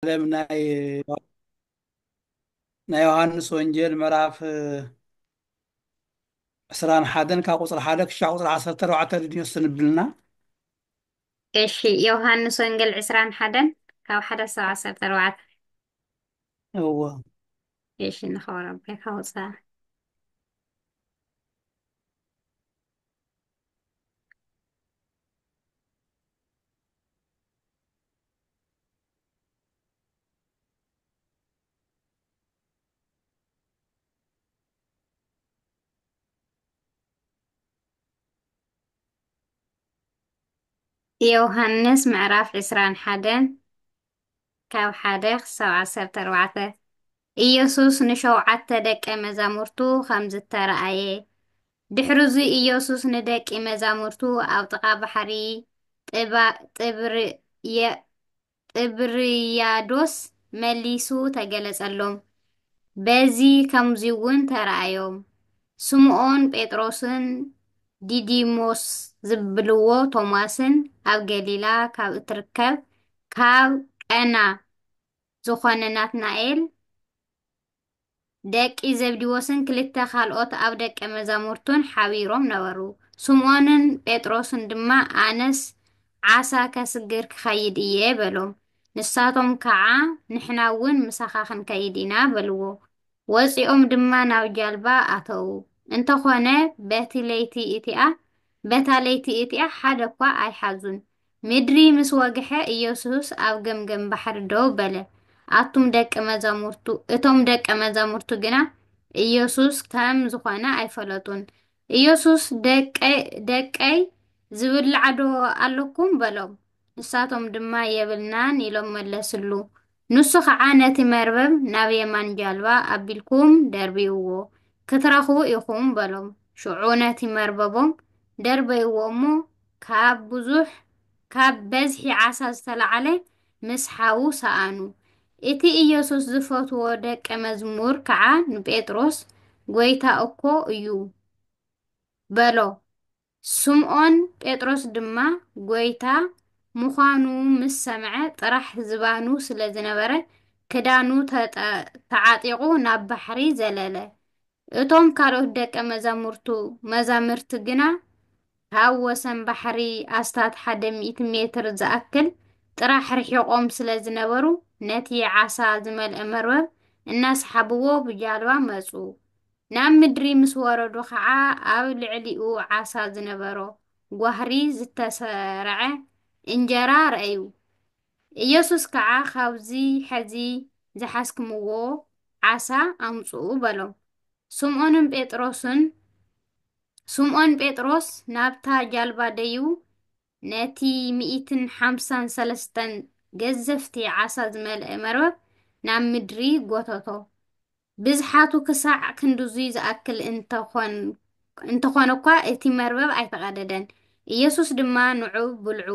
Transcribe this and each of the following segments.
ዓለም ናይ ናይ ዮሃንስ ወንጌል ምዕራፍ ዕስራን ሓደን ካብ ቁፅሪ ሓደ ክሻዕ ቁፅሪ ዓሰርተ ኣርባዕተ ድንዮ ስንብልና እሺ ዮሃንስ ወንጌል ዕስራን ሓደን ካብ ሓደ ሰው ዓሰርተ ኣርባዕተ እዎ እሺ ንኸብረ ኣቦይ ካውፃእ የውሃንስ ምዕራፍ ዕስራን ሓደን ካብ ሓደ ክሳብ ዓሰርተ ኣርባዕተ ኢየሱስ ንሸውዓተ ደቀ መዛሙርቱ ኸም ዝተራእየ። ድሕርዙ ኢየሱስ ንደቂ መዛሙርቱ ኣብ ጥቓ ባሕሪ ጥብርያዶስ መሊሱ ተገለጸሎም። በዚ ኸምዚውን ተራእዮም። ስምኦን ጴጥሮስን ዲዲሞስ ዝብልዎ ቶማስን ኣብ ገሊላ ካብ እትርከብ ካብ ቀና ዝኾነ ናትናኤል፣ ደቂ ዘብዲዎስን ክልተ ካልኦት ኣብ ደቀ መዛሙርቱን ሓቢሮም ነበሩ። ስምኦንን ጴጥሮስን ድማ ኣነስ ዓሳ ከስግር ክኸይድ እየ በሎም። ንሳቶም ከዓ ንሕና እውን ምሳኻ ክንከይድ ኢና በልዎ። ወፂኦም ድማ ናብ ጃልባ ኣተዉ። እንተኾነ በቲ ለይቲ እቲኣ በታ ለይቲ እቲኣ ሓደ እኳ ኣይሓዙን። ምድሪ ምስ ወግሐ ኢየሱስ ኣብ ገምገም ባሕሪ ደው በለ፣ ኣቱም ደቀ መዛሙርቱ እቶም ደቀ መዛሙርቱ ግና ኢየሱስ ከም ዝኾነ ኣይፈለጡን። ኢየሱስ ደቀይ ዝብላዕዶ ኣለኩም በሎም። ንሳቶም ድማ የብልናን ኢሎም መለስሉ። ንሱ ኸዓ ነቲ መርበብ ናብ የማን ጃልባ ኣቢልኩም ደርብይዎ፣ ክትረኽቡ ኢኹም በሎም። ሽዑ ነቲ መርበቦም ደርበይዎ እሞ፣ ካብ ብዙሕ፣ ካብ በዝሒ ዓሳ ዝተላዕለ፣ ምስ ሓዉ ሰኣኑ። እቲ ኢየሱስ ዝፈትዎ ደቀ መዝሙር ከዓ ንጴጥሮስ፣ ጐይታ እኮ እዩ፣ በሎ። ስምኦን ጴጥሮስ ድማ ጐይታ ምዃኑ ምስ ሰምዐ፣ ጥራሕ ዝባኑ ስለ ዝነበረ፣ ክዳኑ ተዓጢቑ ናብ ባሕሪ ዘለለ። እቶም ካልኦት ደቀ መዛሙርቱ መዛምርቲ ግና ካብ ወሰን ባሕሪ ኣስታት ሓደ ሚእቲ ሜትር ዝኣክል ጥራሕ ርሒቖም ስለ ዝነበሩ፣ ነቲ ዓሳ ዝመልአ መርበብ እናሰሓብዎ ብጃልባ መጹ። ናብ ምድሪ ምስ ወረዱ ኸዓ ኣብ ልዕሊኡ ዓሳ ዝነበሮ ጓህሪ ዝተሰርዐ እንጀራ ረኣዩ። ኢየሱስ ከዓ ኻብዚ ሐዚ ዝሓዝክምዎ ዓሳ ኣምፅኡ በሎም። ስምኦንን ጴጥሮስን ስምኦን ጴጥሮስ ናብታ ጃልባ ደይቡ ነቲ ሚእትን ሓምሳን ሰለስተን ገዘፍቲ ዓሳ ዝመልአ መርበብ ናብ ምድሪ ጐተቶ። ብዝሓቱ ክሳዕ ክንድዙይ ዝኣክል እንተኾነኳ እቲ መርበብ ኣይተቐደደን። ኢየሱስ ድማ ንዑ ብልዑ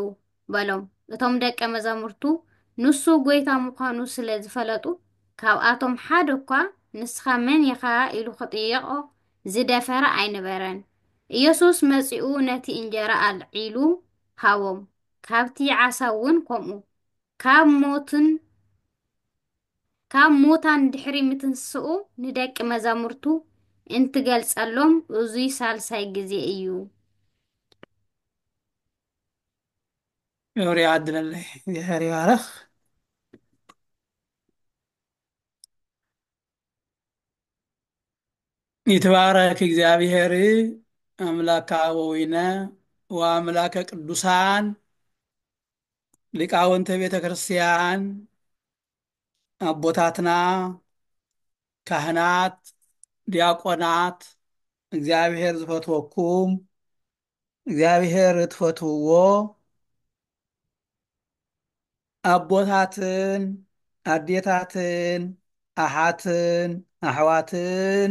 በሎም። እቶም ደቀ መዛሙርቱ ንሱ ጐይታ ምዃኑ ስለ ዝፈለጡ ካብኣቶም ሓደ እኳ ንስኻ መን ኢኻ ኢሉ ክጥይቖ ዝደፈረ ኣይነበረን። ኢየሱስ መጺኡ ነቲ እንጀራ ኣልዒሉ ሃቦም፣ ካብቲ ዓሳ እውን ከምኡ። ካብ ሞትን። ካብ ሙታን ድሕሪ ምትንስኡ ንደቂ መዛሙርቱ እንትገልጸሎም እዙይ ሳልሳይ ግዜ እዩ። ክብሪ ይዓድለለይ እግዚኣብሔር ይባረኽ ይትባረክ እግዚኣብሔር ኣምላከ ኣበዊነ ወኣምላከ ቅዱሳን ሊቃውንተ ቤተ ክርስቲያን አቦታትና ካህናት፣ ዲያቆናት እግዚኣብሔር ዝፈትወኩም እግዚኣብሔር እትፈትውዎ አቦታትን አዴታትን አሓትን አሕዋትን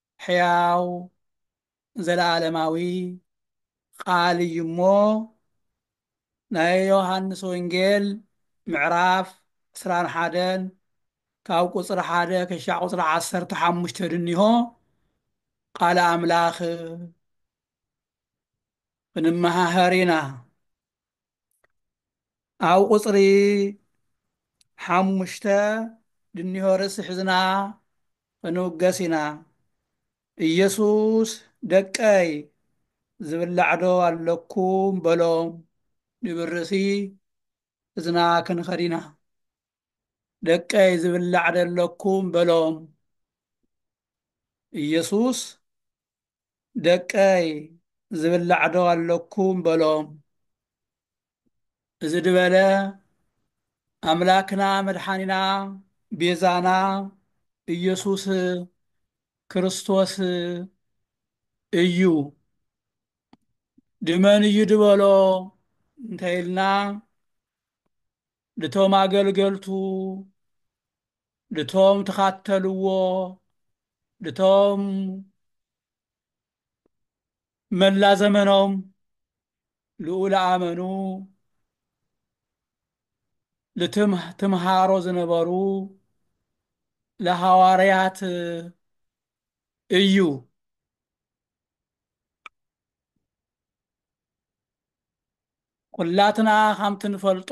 ሕያው ዘለኣለማዊ ቃል እዩ እሞ ናይ ዮሃንስ ወንጌል ምዕራፍ ዕስራን ሓደን ካብ ቁፅሪ ሓደ ክሻዕ ቁፅሪ ዓሰርተ ሓሙሽተ ድኒሆ ቃል ኣምላኽ ክንመሃሃር ኢና ኣብ ቁፅሪ ሓሙሽተ ድኒሆ ርእሲ ሕዝና ክንውገስ ኢና ኢየሱስ ደቀይ ዝብላዕዶ ኣለኩም በሎም ንብል ርእሲ ሕዝና ክንኸድ ኢና ደቀይ ዝብላዕ ደለኩም በሎም ኢየሱስ ደቀይ ዝብላዕዶ ኣለኩም በሎም እዚ ድበለ ኣምላክና መድሓኒና ቤዛና ኢየሱስ ክርስቶስ እዩ ድመን እዩ ድበሎ እንተይልና ልቶም ኣገልገልቱ ልቶም ትኻተልዎ ልቶም መላ ዘመኖም ልኡል ኣመኑ ልትም ትምሃሮ ዝነበሩ ለሃዋርያት እዩ። ኩላትና ከምቲ ንፈልጦ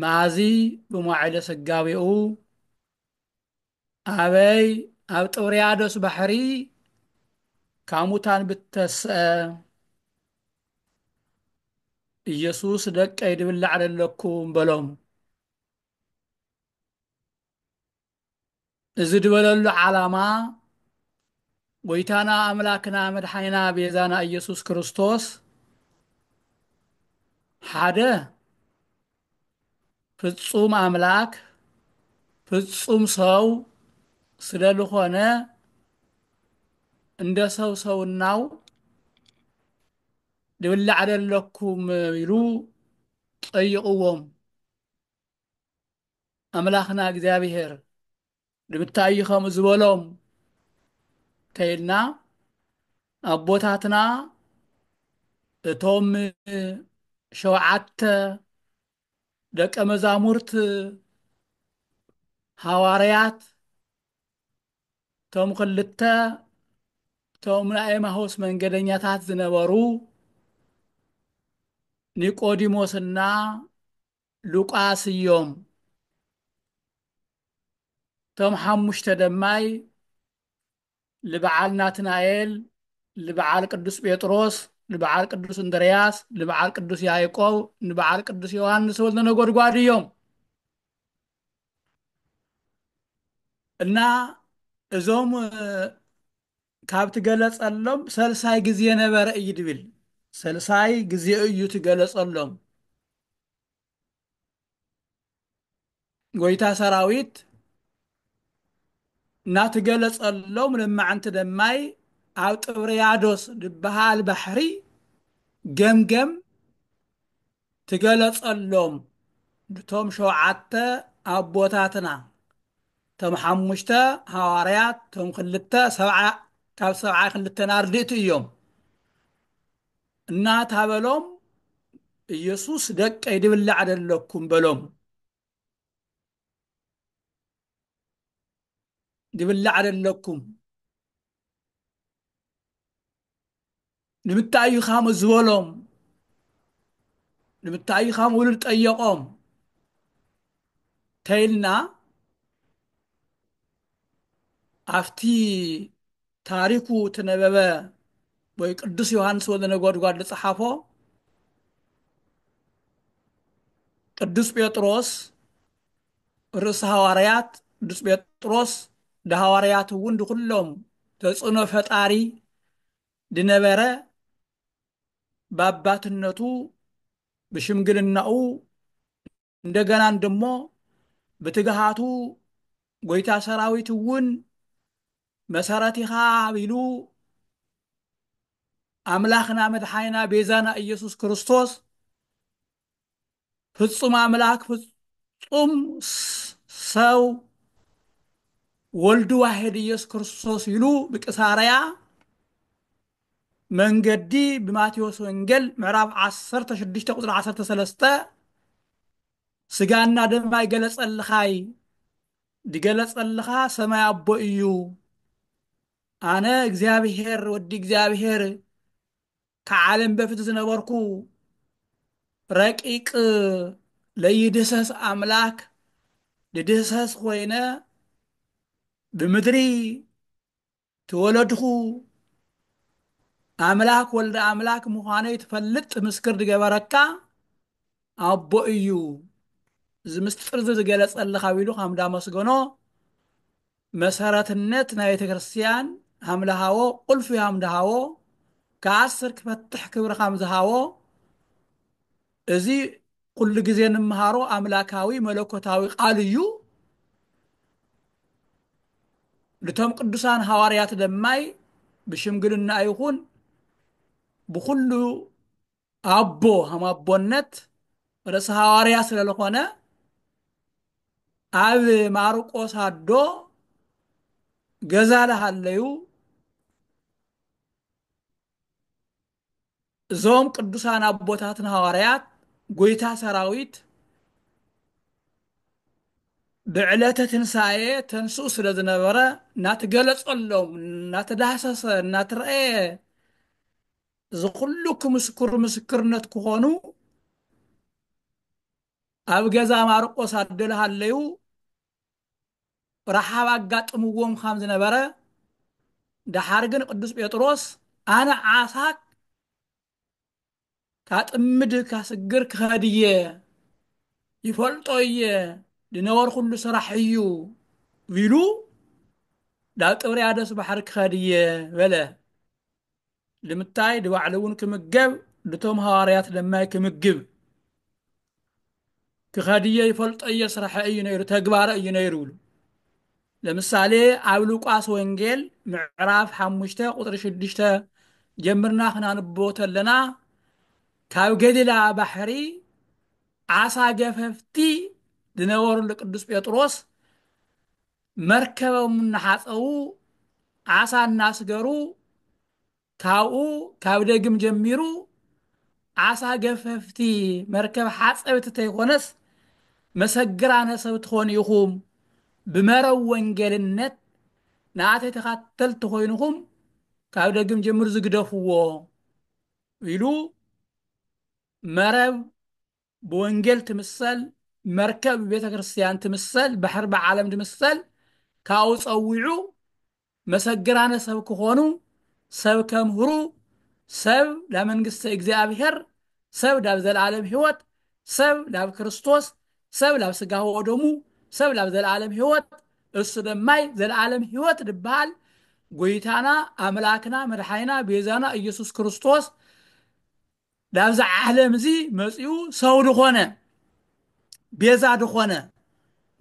መኣዚ ብመዋዕለ ስጋዌኡ ኣበይ ኣብ ጥብርያዶስ ባሕሪ ካብ ሙታን ብተስአ ኢየሱስ ደቀይ ድብላዕ ደለኩም በሎም። እዚ ድበለሉ ዓላማ ጎይታና ኣምላክና መድሓይና ቤዛና ኢየሱስ ክርስቶስ ሓደ ፍጹም ኣምላክ ፍጹም ሰው ስለልኾነ እንደ ሰው ሰውናው ድብላዕ ደለኩም ኢሉ ጠይቕዎም ኣምላኽና እግዚኣብሔር ንምታይ እዩ ከምኡ ዝበሎም ተይልና ኣቦታትና እቶም ሸውዓተ ደቀ መዛሙርት ሃዋርያት እቶም ክልተ እቶም ናይ ኤማሆስ መንገደኛታት ዝነበሩ ኒቆዲሞስና ሉቃስ እዮም። እቶም ሓሙሽተ ደማይ ልበዓል ናትናኤል፣ ልበዓል ቅዱስ ጴጥሮስ፣ ልበዓል ቅዱስ እንድርያስ፣ ልበዓል ቅዱስ ያዕቆብ፣ ንበዓል ቅዱስ ዮሐንስ ወልደ ነጎድጓድ እዮም እና እዞም ካብ ትገለጸሎም ሰልሳይ ግዜ ነበረ እዩ ድብል ሰልሳይ ግዜ እዩ ትገለጸሎም ጎይታ ሰራዊት እናትገለጸሎም ለማዕንቲ ደማይ ኣብ ጥብርያዶስ ድበሃል ባሕሪ ገምገም ትገለጸሎም ንቶም ሸውዓተ ኣቦታትና ቶም ሓሙሽተ ሃዋርያት ቶም ክልተ ሰብዓ ካብ ሰብዓ ክልተን ኣርድእቲ እዮም እናታበሎም ኢየሱስ ደቀይ ድብላዕ ደለኩም በሎም ድብላዕ ደለኩም ንምታይ እዩ ካም ዝበሎም ንምታይ እዩ ካም ውሉድ ጠየቆም ተይልና ኣብቲ ታሪኩ ትነበበ ወይ ቅዱስ ዮሃንስ ወልደ ነጎድጓድ ዝጸሓፎ ቅዱስ ጴጥሮስ ርእሲ ሃዋርያት ቅዱስ ጴጥሮስ ድሃዋርያት እውን ድኩሎም ተጽዕኖ ፈጣሪ ድነበረ ባባትነቱ ብሽምግልናኡ እንደገናን ደሞ ብትግሃቱ ጎይታ ሰራዊት እውን መሰረት ኢኻ ቢሉ ኣምላኽና መድሓይና ቤዛና ኢየሱስ ክርስቶስ ፍጹም ኣምላክ ፍጹም ሰው ወልድ ዋሕድ ኢየሱስ ክርስቶስ ኢሉ ብቂሳርያ መንገዲ ብማቴዎስ ወንጌል ምዕራፍ ዓሰርተ ሽዱሽተ ቁፅሪ ዓሰርተ ሰለስተ ስጋና ደም ኣይገለጸልኻይ ድገለጸልኻ ሰማይ ኣቦ እዩ ኣነ እግዚኣብሔር ወዲ እግዚኣብሔር ከዓለም በፊት ዝነበርኩ ረቂቅ ለይድህሰስ ኣምላክ ድድህሰስ ኮይነ ብምድሪ ትወለድኹ ኣምላክ ወልደ ኣምላክ ምዃነይ ትፈልጥ ምስክር ዝገበረካ ኣቦ እዩ እዚ ምስጢር እዚ ዝገለጸልኻ ቢሉ ከም ዳመስገኖ መሰረትነት ናይ ቤተ ክርስቲያን ሃም ለሃዎ ቁልፊ ሃም ደሃዎ ከኣስር ክፈትሕ ክብሪ ከም ዝሃዎ እዚ ኩሉ ግዜ ንምሃሮ ኣምላካዊ መለኮታዊ ቃል እዩ ንቶም ቅዱሳን ሃዋርያት ደማይ ብሽምግልና ይኹን ብኩሉ ኣቦ ሃም ኣቦነት ርእሲ ሃዋርያ ስለለኾነ ኣብ ማርቆስ ኣዶ ገዛ ለሃለዩ እዞም ቅዱሳን ኣቦታትና ሃዋርያት ጎይታ ሰራዊት ብዕለተ ትንሣኤ ተንስኡ ስለ ዝነበረ እናተገለጸሎም እናተዳህሰሰ እናተረእየ ዝኹሉ ክምስክሩ ምስክርነት ክኾኑ ኣብ ገዛ ማርቆስ ኣደልሃለዩ ረሃብ ኣጋጥምዎ ምዃም ዝነበረ ደሓር ግን ቅዱስ ጴጥሮስ ኣነ ዓሳ ካጥምድ ካስግር ክኸድ እየ ይፈልጦ እየ ዝነበርኩሉ ስራሕ እዩ ቢሉ ናብ ጥብርያዶስ ባሕሪ ክኸድ እየ በለ ልምታይ ድባዕሉ እውን ክምገብ ልቶም ሃዋርያት ለማይ ክምግብ ክኸድየ ይፈልጠየ ስራሐ እዩ ነይሩ ተግባረ እዩ ነይሩ ብሉ ለምሳሌ ኣብ ሉቃስ ወንጌል ምዕራፍ ሓሙሽተ ቁጥሪ ሽዱሽተ ጀምርና ክናንቦ ተለና ካብ ገሊላ ባሕሪ ዓሳ ገፈፍቲ ዝነበሩሉ ቅዱስ ጴጥሮስ መርከቦም እናሓፀቡ ዓሳ እናስገሩ ካብኡ ካብ ደግም ጀሚሩ ዓሳ ገፈፍቲ መርከብ ሓፀብቲ ተይኮነስ መሰግራነ ሰብ ትኾኑ ኢኹም ብመረብ ወንጌልነት ንኣተይ ተኻተልቲ ኮይንኹም ካብ ደግም ጀምሩ ዝግደፍዎ ኢሉ መረብ ብወንጌል ትምሰል መርከብ ብቤተ ክርስቲያን ትምሰል ባሕሪ ብዓለም ትምሰል ካብኡ ጸዊዑ መሰግራነ ሰብ ክኾኑ ሰብ ከምህሩ ሰብ ናብ መንግስተ እግዚኣብሔር ሰብ ናብ ዘለዓለም ሕይወት ሰብ ናብ ክርስቶስ ሰብ ናብ ስጋ ወደሙ ሰብ ናብ ዘለዓለም ሕይወት እሱ ደማይ ዘለዓለም ሕይወት ድበሃል ጎይታና ኣምላክና መድሓኒና ቤዛና ኢየሱስ ክርስቶስ ላብዚ ዓለም እዚ መጺኡ ሰው ድኾነ ቤዛ ድኾነ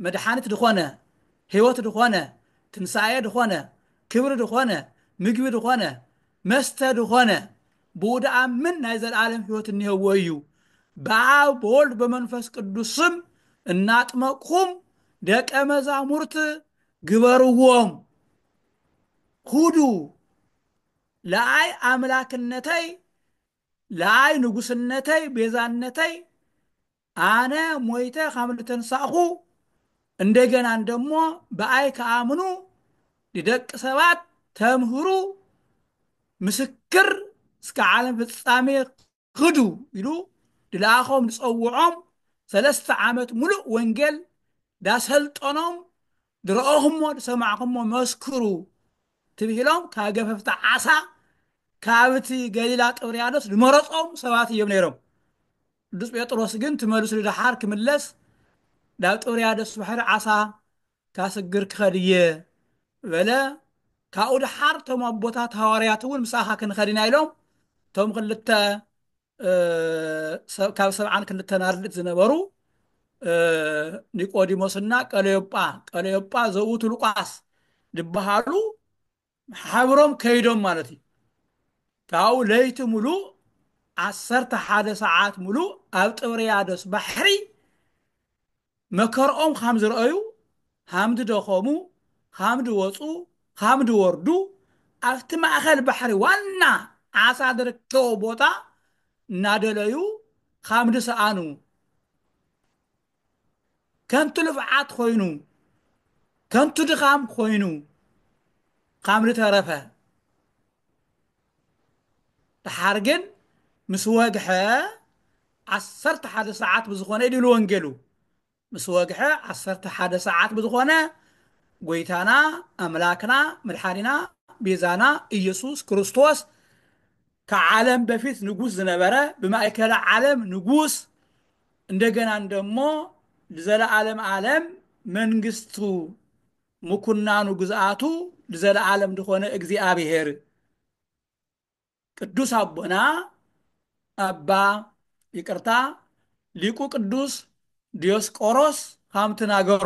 መድሓኒት ድኾነ ሕይወት ድኾነ ትንሳኤ ድኾነ ክብሪ ድኾነ ምግቢ ድኾነ መስተ ድኾነ ብኡ ድኣምን ናይ ዘለዓለም ሕይወት እኒሀዎ እዩ ብኣብ በወልድ በመንፈስ ቅዱስ ስም እናጥመቅኹም ደቀ መዛሙርት ግበርዎም ሁዱ ለኣይ ኣምላክነተይ ለኣይ ንጉስነተይ ቤዛነተይ ኣነ ሞይተ ከም ልተንሳእኹ እንደገና እንደሞ ብኣይ ከኣምኑ ንደቂ ሰባት ተምህሩ ምስክር እስከ ዓለም ፍጻሜ ኽዱ ኢሉ ድልኣኾም ድጸውዖም ሰለስተ ዓመት ምሉእ ወንጌል ዳሰልጠኖም ድረኦኹሞ ድሰማዕኹሞ መስክሩ ትብሂሎም ካብ ገፈፍቲ ዓሳ ካብቲ ገሊላ ጥብርያዶስ ድመረጾም ሰባት እዮም ነይሮም ቅዱስ ጴጥሮስ ግን ትመልሱ ድሓር ክምለስ ናብ ጥብርያዶስ ባሕሪ ዓሳ እታ ስግር ክኸድ እየ በለ። ካብኡ ደሓር እቶም ኣቦታት ሃዋርያት እውን ምሳኻ ክንኸድ ኢና ኢሎም እቶም ክልተ ካብ ሰብዓን ክልተን ኣርድእት ዝነበሩ ኒቆዲሞስና ቀለዮጳ ቀለዮጳ ዘውቱ ሉቃስ ዝበሃሉ ሓብሮም ከይዶም ማለት እዩ። ካብኡ ለይቲ ሙሉእ ዓሰርተ ሓደ ሰዓት ሙሉእ ኣብ ጥብርያዶስ ባሕሪ መከርኦም ኻም ዝረኣዩ ኻም ዝደኸሙ ኻም ዝወፁ ኻም ዝወርዱ ኣብቲ ማእኸል ባሕሪ ዋና ዓሳ ዝርከቦ ቦታ እናደለዩ ኻም ዝሰኣኑ ከንቱ ልፍዓት ኮይኑ ከንቱ ድኻም ኮይኑ ካብ ንተረፈ ደሓር ግን ምስ ወግሐ ዓሰርተ ሓደ ሰዓት ብዝኾነ ኢሉ ወንጌሉ ምስ ወግሐ ዓሰርተ ሓደ ሰዓት ብዝኾነ ጎይታና ኣምላክና መድሓኒና ቤዛና ኢየሱስ ክርስቶስ ከዓለም በፊት ንጉስ ዝነበረ ብማእከለ ዓለም ንጉስ እንደገናን ደሞ ንዘለዓለም ዓለም መንግስቱ ምኩናኑ ግዝኣቱ ንዘለዓለም ዝኾነ እግዚኣብሔር ቅዱስ ኣቦና ኣባ ይቅርታ ሊቁ ቅዱስ ዲዮስቆሮስ ሃምትናገሮ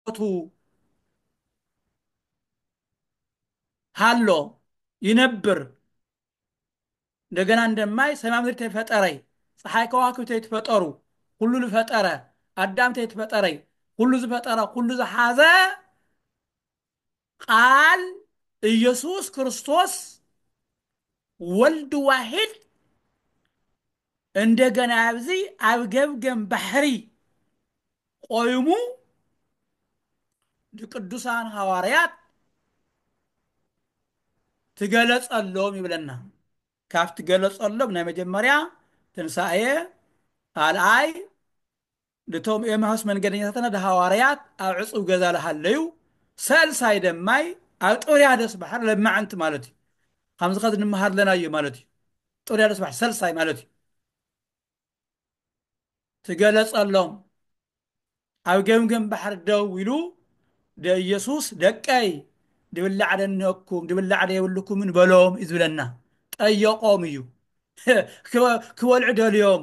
ሂወቱ ሃሎ ይነብር እንደገና እንደማይ ሰማይ ምድሪ ተፈጠረይ ፀሓይ ከዋክብቲ ተይትፈጠሩ ኩሉ ዝፈጠረ ኣዳም ተይትፈጠረይ ኩሉ ዝፈጠረ ኩሉ ዝሓዘ ቃል ኢየሱስ ክርስቶስ ወልድ ዋሂድ እንደገና ኣብዚ ኣብ ገምገም ባሕሪ ቆይሙ ንቅዱሳን ሃዋርያት ትገለጸሎም ይብለና ካብ ትገለጸሎም ናይ መጀመርያ ትንሳኤ ካልኣይ ንቶም ኤማሁስ መንገደኛታትና ደሃዋርያት ኣብ ዕጹው ገዛ ለሃለዩ ሰልሳይ ደማይ ኣብ ጥብርያዶስ ባሕር ለማዕንቲ ማለት እዩ። ከምዚ ከዚ ንመሃር ለና እዩ ማለት እዩ። ጥብርያዶስ ባሕር ሰልሳይ ማለት እዩ። ትገለጸሎም ኣብ ገምገም ባሕር ደው ኢሉ ደኢየሱስ ደቀይ ድብላዕ ደነኩም ድብላዕ ደየብልኩምን በሎም እዩ ዝብለና። ጠየቆም እዩ ክበልዑ ደልዮም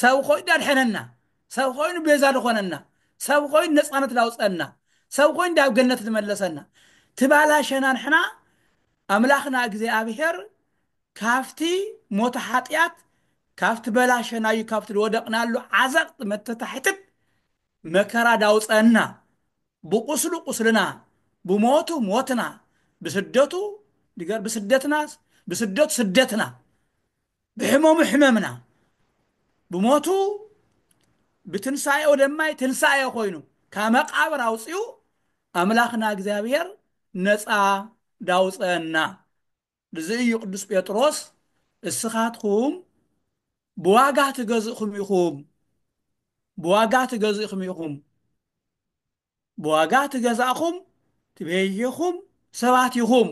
ሰብ ኾይኑ ዳድሐነና ሰብ ኾይኑ ቤዛ ድኾነና ሰብ ኾይኑ ነጻነት ዳውጸእና ሰብ ኾይኑ ዳብ ገነት ድመለሰና ትባላሸና ንሕና ኣምላኽና እግዚኣብሔር ካፍቲ ሞተ ሐጥያት ካፍቲ በላሸናዩ ካፍቲ ድወደቅናሉ ዓዘቅት መተታሕትት መከራ ዳውጸእና ብቁስሉ ቁስልና ብሞቱ ሞትና ብስደቱ ብስደትና ብስደቱ ስደትና ብሕመሙ ሕመምና፣ ብሞቱ ብትንሳኤኡ ደማይ ትንሳኤ ኮይኑ ካብ መቃብር ኣውጺኡ ኣምላኽና እግዚኣብሔር ነጻ ዳውጸአና። ብዚ እዩ ቅዱስ ጴጥሮስ እስኻትኩም ብዋጋ ተገዝእኹም ኢኹም ብዋጋ ተገዝእኹም ኢኹም። ብዋጋ ትገዛእኹም ትቤዢኹም ሰባት ኢኹም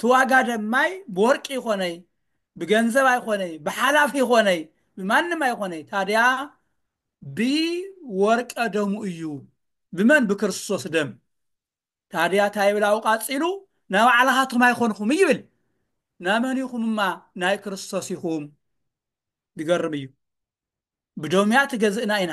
ትዋጋ ደማይ ብወርቂ ኣይኾነይ ብገንዘብ ኣይኾነይ ብሓላፍ ኣይኾነይ ብማንም ኣይኾነይ ታዲያ ብ ወርቀ ደሙ እዩ ብመን ብክርስቶስ ደም ታዲያ ታይ ይብል ኣብኡ ቃጺሉ ናባዕላኻትኩም ኣይኾንኹም ይብል ናመን ኢኹም እማ ናይ ክርስቶስ ኢኹም ድገርም እዩ ብደሙያ ትገዝእና ኢና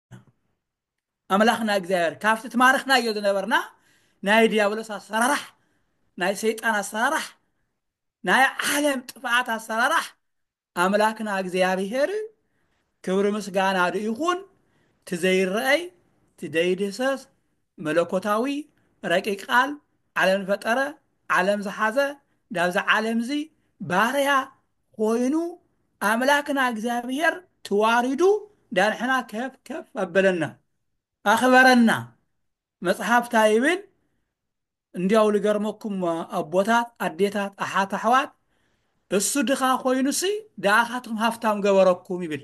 ኣምላኽና እግዚኣብሔር ካብቲ ትማርኽናዮ ዝነበርና ናይ ዲያብሎስ ኣሰራራሕ ናይ ሰይጣን ኣሰራራሕ ናይ ዓለም ጥፍኣት ኣሰራራሕ ኣምላክና እግዚኣብሔር ክብሪ ምስጋና ዶ ይኹን ትዘይረአይ ትደይድህሰስ መለኮታዊ ረቂቅ ቃል ዓለም ዝፈጠረ ዓለም ዝሓዘ ዳብዚ ዓለም እዚ ባርያ ኮይኑ ኣምላክና እግዚኣብሔር ትዋሪዱ ዳንሕና ከፍ ከፍ ኣበለና ኣክበረና መጽሓፍ ታይ ይብል እንዲያው ልገርመኩም ኣቦታት ኣዴታት ኣሓት ኣሕዋት እሱ ድኻ ኮይኑሲ ድኣኻትኩም ሃፍታም ገበረኩም ይብል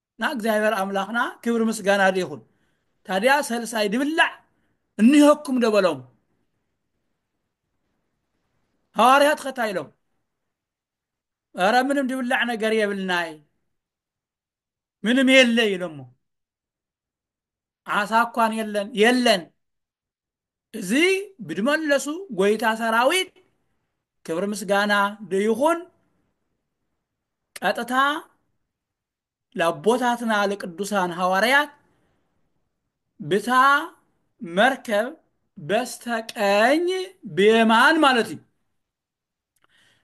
ን እግዚኣብሔር ኣምላክና ክብሪ ምስጋና ዶ ይኩን ታድያ ሰልሳይ ድብላዕ እኒሀኩም ዶ በሎም ሃዋርያት ከ ታይ ኢሎም ኧረ ምንም ድብላዕ ነገር የብልናይ ምንም የለ ኢሎሞ ዓሳ እኳን የለን የለን እዚ ብድመለሱ ጎይታ ሰራዊት ክብሪ ምስጋና ደይኹን ቀጥታ ለቦታትና ለቅዱሳን ሐዋርያት ብታ መርከብ በስተቀኝ ብየማን ማለት እዩ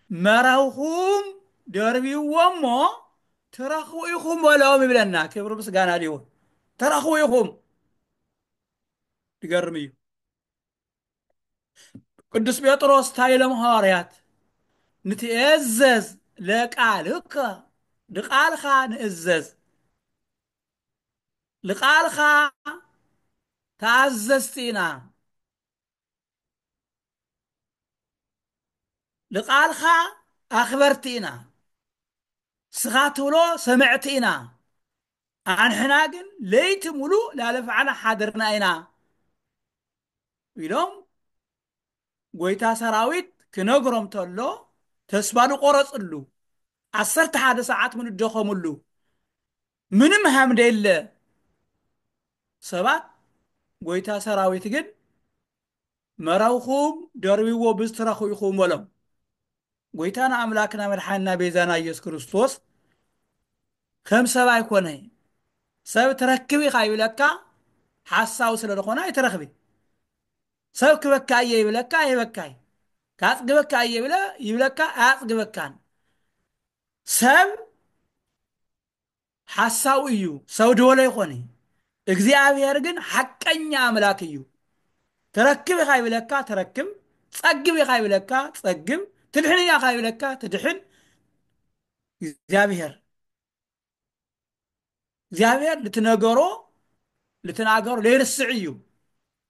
መራኹም ደርብይዎ እሞ ትረኽቡ ኢኹም በሎም ይብለና ክብሪ ምስጋና ሊሆን ትረኽቡ ኢኹም ይገርም እዩ ቅዱስ ጴጥሮስ እንታይ ኢሎም ሃዋርያት ንትእዘዝ ለቃልከ ንቃልካ ንእዘዝ ንቃልካ ተኣዘዝቲ ኢና ንቃልካ ኣክበርቲ ኢና ንስካ ትብሎ ሰመዕቲ ኢና ኣንሕና ግን ለይቲ ሙሉእ ላለፍዓና ሓድርና ኢና ኢሎም ጎይታ ሰራዊት ክነግሮም ተሎ ተስፋ ዝቆረጽሉ ዓሰርተ ሓደ ሰዓት ምንደኸምሉ ምንም ሃምደለ ሰባት ጎይታ ሰራዊት ግን መረብኩም ደርብዎ ብዝትረኹ ኢኹም በሎም ጎይታና ኣምላክና መድሓንና ቤዛና ኢየሱስ ክርስቶስ ከም ሰብ ኣይኮነ ሰብ ትረክብ ኢኻ ይብለካ ሓሳዊ ስለ ዝኾነ ኣይትረኽቢ ሰብ ክበካ እየ ይብለካ ኣይህበካይ ካጽግበካ እየ ይብለ ይብለካ ኣያጽግበካን ሰብ ሓሳዊ እዩ ሰው ድወሎ ይኾን እዩ እግዚኣብሔር ግን ሓቀኛ ኣምላክ እዩ ትረክብ ኢኻ ይብለካ ትረክብ ጸግብ ኢኻ ይብለካ ጸግብ ትድሕን ኢኻ ይብለካ ትድሕን እግዚኣብሔር እግዚኣብሔር ልትነገሮ ልትናገሮ ለይርስዕ እዩ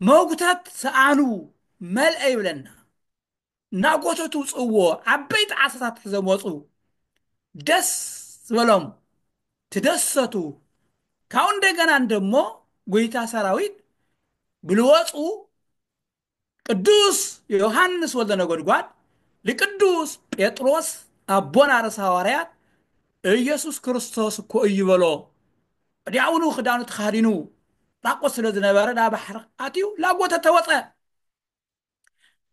መጉተት ሰኣኑ መልአ ይብለና። እናጎተቱ ውጽእዎ ዓበይቲ ዓሳታት ሒዞም ወጹ። ደስ በሎም ትደሰቱ ካብኡ እንደገና እንደሞ ጎይታ ሰራዊት ብልወጹ ቅዱስ ዮሐንስ ወልደ ነጎድጓድ ልቅዱስ ጴጥሮስ ኣቦና ርእሰ ሐዋርያት ኢየሱስ ክርስቶስ እኮ እዩ በሎ ወዲያውኑ ክዳኑ ተኻዲኑ ራቆት ስለ ዝነበረ ናብ ባሕሪ ኣትዩ ላጎተተ ወፀ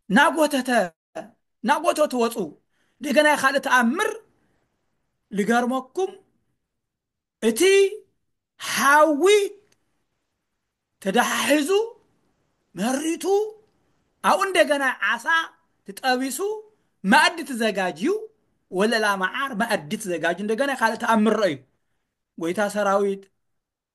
ናጎተተ ናጎቶ ትወጹ ደገናይ ካልእ ተኣምር ልገርመኩም እቲ ሓዊ ተደሓሒዙ መሪቱ ኣብኡ እንደገና ዓሳ ትጠቢሱ መኣዲ ትዘጋጅዩ ወለላ መዓር መኣዲ ትዘጋጅ እንደገና ካልእ ተኣምር ረእዩ ጎይታ ሰራዊት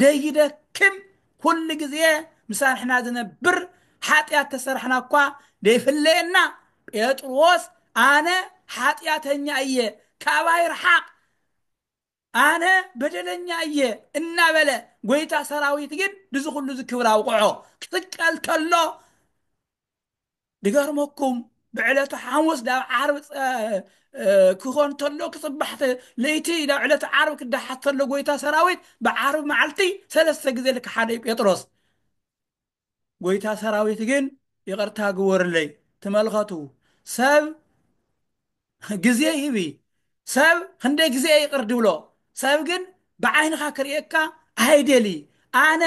ዘይደክም ኩሉ ግዜ ምሳንሕና ዝነብር ሓጢኣት ተሰራሕና እኳ ዘይፍለየና ጴጥሮስ ኣነ ሓጢኣተኛ እየ ካባይ ርሓቅ ኣነ በደለኛ እየ እናበለ ጎይታ ሰራዊት ግን ድዚ ኩሉ እዚ ክብር ኣውቕዖ ክስቀል ከሎ ድገርመኩም ብዕለተ ሓሙስ ዳብ ዓርብ ክኾን ተሎ ክጽባሕ ለይቲ ናብ ዕለተ ዓርብ ክዳሓት ተሎ ጎይታ ሰራዊት ብዓርብ መዓልቲ ሰለስተ ግዜ ልክ ሓደ እዩ ጴጥሮስ ጎይታ ሰራዊት ግን ይቕርታ ግበሩለይ ትመልኸቱ ሰብ ግዜ ሂቢ ሰብ ክንደይ ግዜ እየ ይቅር ድብሎ ሰብ ግን ብዓይንካ ክርእየካ ኣይደልይ ኣነ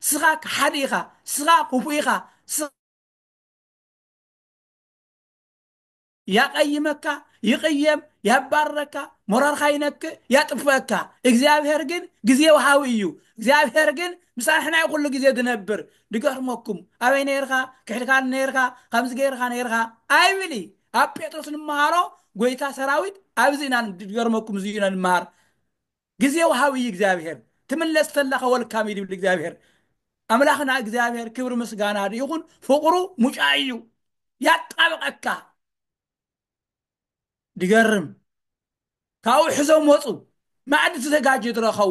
ስካ ክሓዲ ኢካ ስካ ኩፉእ ኢካ ስካ ያቀይመካ ይቅየም ያባርረካ ሞራርካ ይነክእ ያጥፍእካ እግዚኣብሔር ግን ግዜ ወሃቢ እዩ እግዚኣብሔር ግን ምሳንሕና እዩ ኩሉ ግዜ ዝነብር ድገርመኩም ኣበይ ነይርካ ክሕድካን ነይርካ ከምዚ ገይርካ ነይርካ ኣይብል ኣብ ጴጥሮስ ንመሃሮ ጎይታ ሰራዊት ኣብዚ ኢና ንገርመኩም እዚ ኢና ንመሃር ግዜ ወሃብ እዩ እግዚኣብሔር ትምለስ ተላኸ ወልካም እዩ ድብል እግዚኣብሔር ኣምላኽና እግዚኣብሔር ክብሪ ምስጋና ይኹን ፍቕሩ ሙጫ እዩ ያጣብቐካ ድገርም ካብኡ ሕዞም ወፁ ማዕዲ ተዘጋጅ ድረኸቡ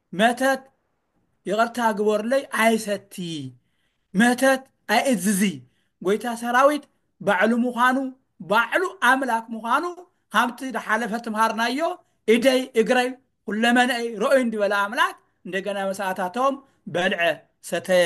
መተት ይቅርታ ግበሩለይ ኣይሰቲ መተት ኣይእዝዚ ጎይታ ሰራዊት ባዕሉ ምዃኑ ባዕሉ ኣምላክ ምዃኑ ኻብቲ ድሓለፈ ትምሃርናዮ ኢደይ እግረይ ኹለመነኣይ ረኡይ እንድበለ ኣምላክ እንደገና መሰኣታቶም በልዐ ሰተየ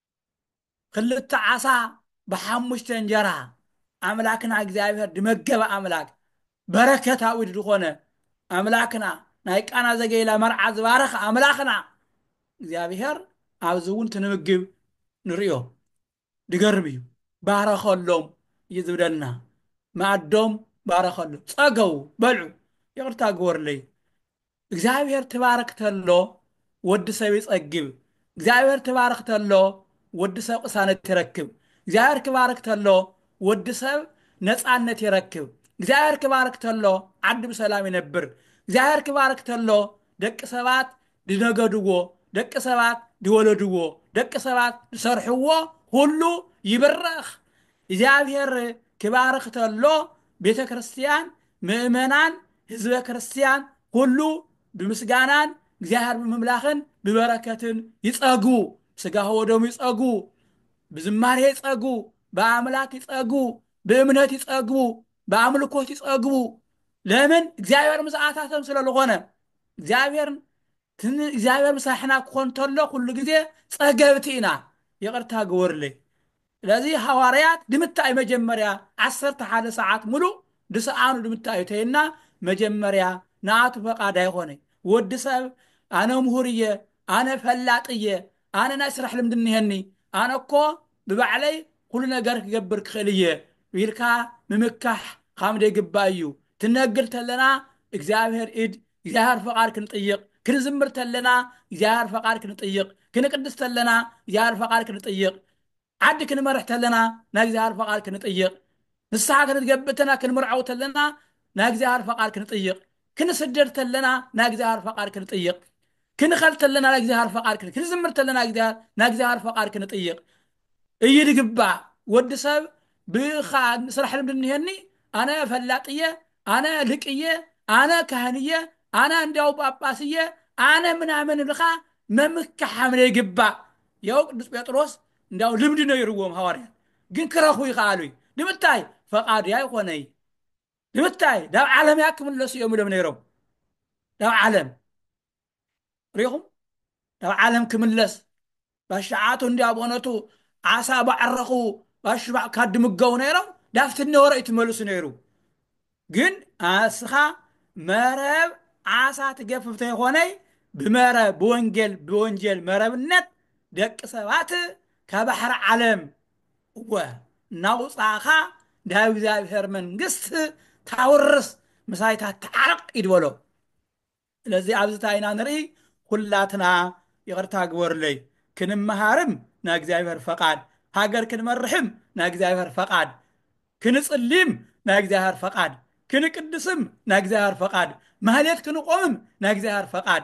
ክልተ ዓሳ ብሓሙሽተ እንጀራ ኣምላክና እግዚኣብሔር ድመገበ ኣምላክ በረከታዊ ድኾነ ኣምላክና ናይ ቃና ዘገይላ መርዓ ዝባረኸ ኣምላክና እግዚኣብሔር ኣብዚ እውን ትንምግብ ንርእዮ ድገርም እዩ ባረኸሎም እዩ ዝብለና ማእዶም ባረኸሉ ጸገቡ በልዑ ይቕርታ ግበሩለይ እግዚኣብሔር ትባርክ ተሎ ወዲ ሰብ ይጸግብ እግዚኣብሔር ትባርክ ተሎ ወዲ ሰብ ቅሳነት ይረክብ እግዚኣብሔር ክባርክ ተሎ ወዲ ሰብ ነጻነት ይረክብ እግዚኣብሔር ክባርክ ተሎ ዓዲ ብሰላም ይነብር እግዚኣብሔር ክባርክ ተሎ ደቂ ሰባት ድነገድዎ ደቂ ሰባት ድወለድዎ ደቂ ሰባት ድሰርሕዎ ሁሉ ይብረኽ እግዚኣብሔር ክባርክ ተሎ ቤተ ክርስቲያን ምእመናን ህዝበ ክርስቲያን ኹሉ ብምስጋናን እግዚኣብሔር ብምምላኽን ብበረከትን ይጸግቡ፣ ሥጋሁ ወደሙ ይጸግቡ፣ ብዝማሬ ይጸግቡ፣ በኣምላክ ይጸግቡ፣ ብእምነት ይጸግቡ፣ በኣምልኮት ይጸግቡ፣ ለምን እግዚኣብሔር ምስኣታቶም ስለ ልኾነ፣ እግዚኣብሔር ትን እግዚኣብሔር ምሳሕና ክኾን ተሎ ኩሉ ጊዜ ጸገብቲ ኢና፣ ይቕርታ ግበሩለይ ስለዚ ሃዋርያት ድምታይ መጀመርያ ዓሰርተ ሓደ ሰዓት ምሉእ ድሰኣኑ ድምታዩ ተይልና መጀመርያ ንኣቱ ፈቃድ ኣይኾነይ ወዲ ሰብ ኣነ ምሁር እየ ኣነ ፈላጥ እየ ኣነ ናይ ስራሕ ልምዲ እኒሀኒ ኣነ እኮ ብባዕለይ ኩሉ ነገር ክገብር ክኽእል እየ ኢልካ ምምካሕ ኻምደይግባእ እዩ ትነግር ተለና እግዚኣብሔር ኢድ እግዚኣብሔር ፈቃድ ክንጥይቅ ክንዝምር ተለና እግዚኣብሔር ፈቃድ ክንጥይቅ ክንቅድስ ተለና እግዚኣብሔር ፈቃድ ክንጥይቅ ዓዲ ክንመርሕ ተለና ናይ እግዚኣብሔር ፈቃድ ክንጥይቅ ንስሓ ክንትገብእ ተና ክንምርዓው ተለና ናይ እግዚኣብሔር ፈቃድ ክንጥይቅ ክንስደድ ተለና ናይ እግዚኣብሔር ፈቃድ ክንጥይቅ ክንኸል ተለና ናይ እግዚኣብሔር ፈቃድ ክንዝምር ተለና ናይ እግዚኣብሔር ፈቃድ ክንጥይቅ እዩ ዝግባእ ወዲ ሰብ ብካ ስራሕ ልምዲ እንሄኒ ኣነ ፈላጥ እየ ኣነ ልቅ እየ ኣነ ካህን እየ ኣነ እንዲያው ጳጳስ እየ ኣነ ምናምን ብልካ መምካሓም ዘይግባእ ያው ቅዱስ ጴጥሮስ እንዲያው ልምዲ ነይርዎም ሃዋርያት ግን ክረኽቡ ይኸኣሉ እዩ ንምታይ ፈቓድያ ይኾነይ ንምታይ ናብ ዓለምያ ክምለሱ እዮም ኢሎም ነይሮም ናብ ዓለም ሪኹም ናብ ዓለም ክምለስ ባሻዓቱ እንዲያ በእውነቱ ዓሳ ባዕረኹ ባሽባዕ ካዲ ምገቡ ነይሮም ዳፍት ነበረ እዩ ትመልሱ ነይሩ ግን ኣስኻ መረብ ዓሳ ትገፍፍ ተይኾነይ ብመረብ ብወንጌል ብወንጀል መረብነት ደቂ ሰባት ካብ ባሕሪ ዓለም እወ እናውፃእኻ ናይ እግዚኣብሔር መንግስት ታውርስ ምሳይታት ተዓረቕ ይድበሎ ስለዚ ኣብዚ እንታይ ኢና ንርኢ ኩላትና ይቅርታ ግበሩለይ ክንመሃርም ናይ እግዚኣብሔር ፈቃድ ሃገር ክንመርሕም ናይ እግዚኣብሔር ፈቃድ ክንጽሊም ናይ እግዚኣብሔር ፈቃድ ክንቅድስም ናይ እግዚኣብሔር ፈቃድ ማህሌት ክንቆምም ናይ እግዚኣብሔር ፈቃድ